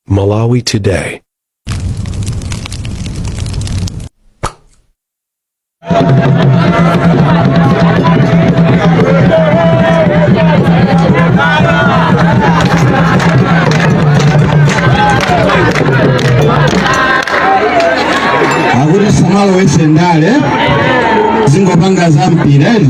Malawi Today. akuti tisamalowese ndale zingopanga za mpira eti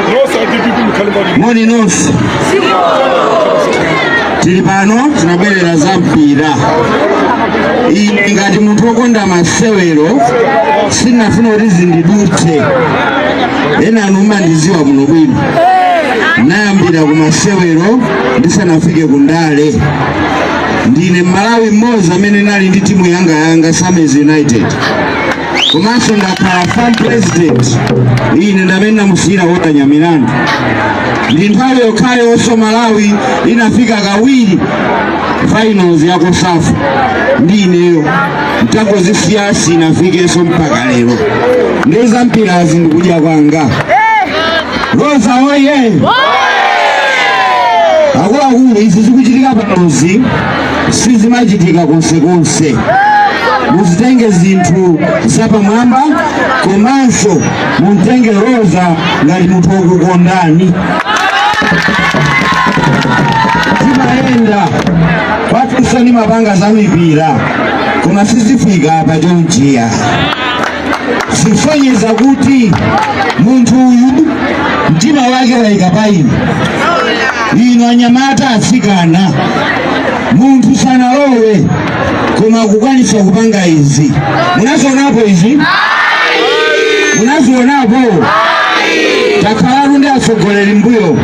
moni nonse tili pano tinabwerera za mpira ine ngati munthu wokonda masewero sinafuna kuti zindidutse enanu mumandiziwa muno bwino nayambira ku masewero ndisanafike ku ndale ndine mmalawi mmodzi amene nali ndi timu yanga yanga Sammy's united komanso ndakhala FAM president ine ndamene namusiyira Walter Nyamilandu ndi nthawi yokhayo oso malawi inafika kawiri finals ya COSAFA ndi ineyo ntangozisiya sinafikenso mpaka lero nde za mpirazi ndi kudya kwanga roza oye akuluakulu izi zikuchitika panozi sizimachitika konsekonse muzitenge zinthu zapamwamba komanso mumtenge roza ngati munthu wokukondani zimayenda kwathunso ndimapanga za mipira koma sizifika pa chonchiya zikusonyeza kuti munthu uyu mtima wake wayika pa inu inu anyamata atsikana munthu sanalowe koma kukwanisa kupanga izi munazionapo izi munazionapo takhalatu ndi atsogoleri mbuyo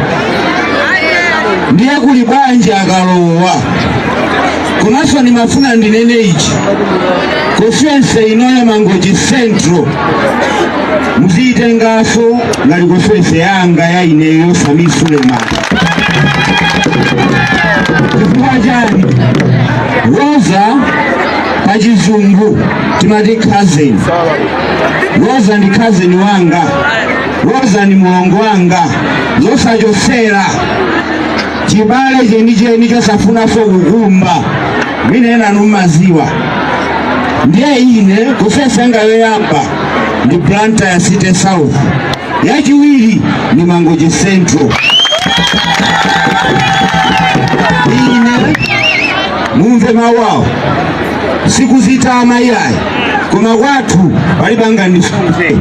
ndiye kuli bwanji akalowa komanso ndimafuna ndinene ichi constituency ino ya mangochi central muziyitengaso ngati constituency yanga ya ineyo sami suleman chifukwa chani roza pachizungu timati cousin roza ndi cousin wanga roza ndi mulongo wanga zosachosera chibale chenicheni chosafunanso kukumba mwina enanu mmaziwa ndiye ine constituency yanga yoyamba ndi Blantyre city south yachiwiri ndi mangochi central ine mumve mawu awo sikuzitama iyayi koma kwathu palibe angandisunze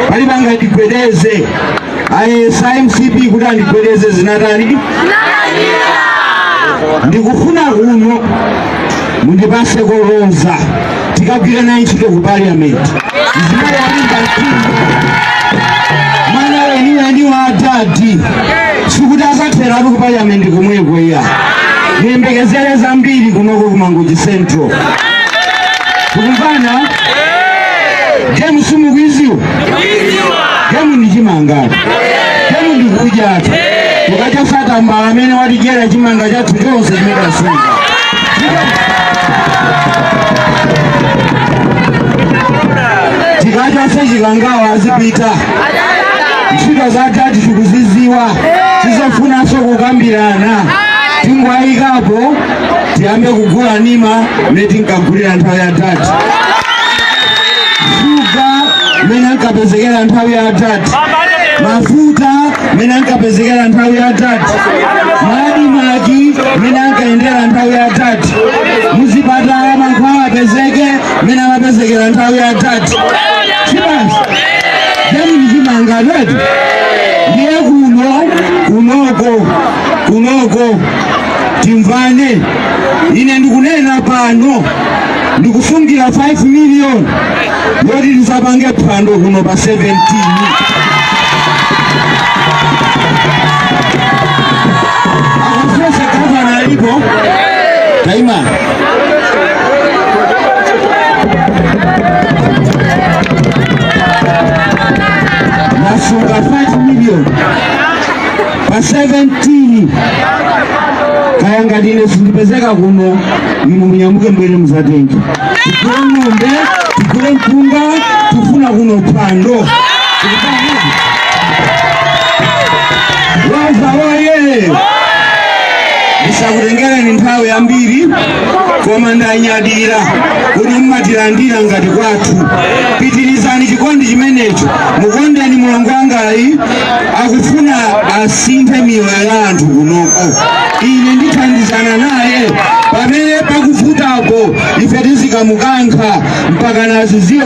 palibe angandigwedeze ayesa mcp kuti andigwedeze zinatani ndikufuna kuno mundipase Roza tikagwire naye ntchito ku parliament zimene walinga mtima mwana weniweni wa adadi sikuti azatheratu ku parliament komweko iya ndiyembekezere zambiri kunoko ku mangochi central tikumvana gemu mukuiziwa Gemu ndi chimangatu. Gemu ndi kudyatu. Tikachosetu mbala amene watidyera chimanga chathu chonse chimene tasunga. Tikachose chikangawa azipita. Ntchito za adadi tikuziziwa. Sizofunanso kukambirana. Tingowayikapo tiyambe kugula nima mene tinkagulira nthawi ya adadi shuga mene ankapezekera nthawi ya adadi mafuta mene ankapezekera nthawi ya adadi ma admarc mene ankayendera nthawi ya adadi muzipatala mankhwala apezeke mene amapezekera nthawi ya adadi basi gemu ndi chimangatu ndiye kuno kunoko kunoko timvane ine ndikunena pano ndikusungira 5 million yoti tizapange phwando kuno pa 17 akufesa gavana alipo taimani ndasunga 5 million pa 17 kaya ngati ine sindipezeka kuno inu munyamuke mbwere muzatenge tigule ng'ombe tigule mpunga tifuna kuno phwando Roza oye ndisakutengereni nthawi yambiri koma ndanyadira kuti mmatilandira ngati kwathu pitirizani chikondi chimenecho mukondeni mulongo wangayi akufuna asinthe miyoyo ya anthu kunoko ine ndithandizana naye pamene pakuvuta apo ife tizikamukankha mpaka naziziwe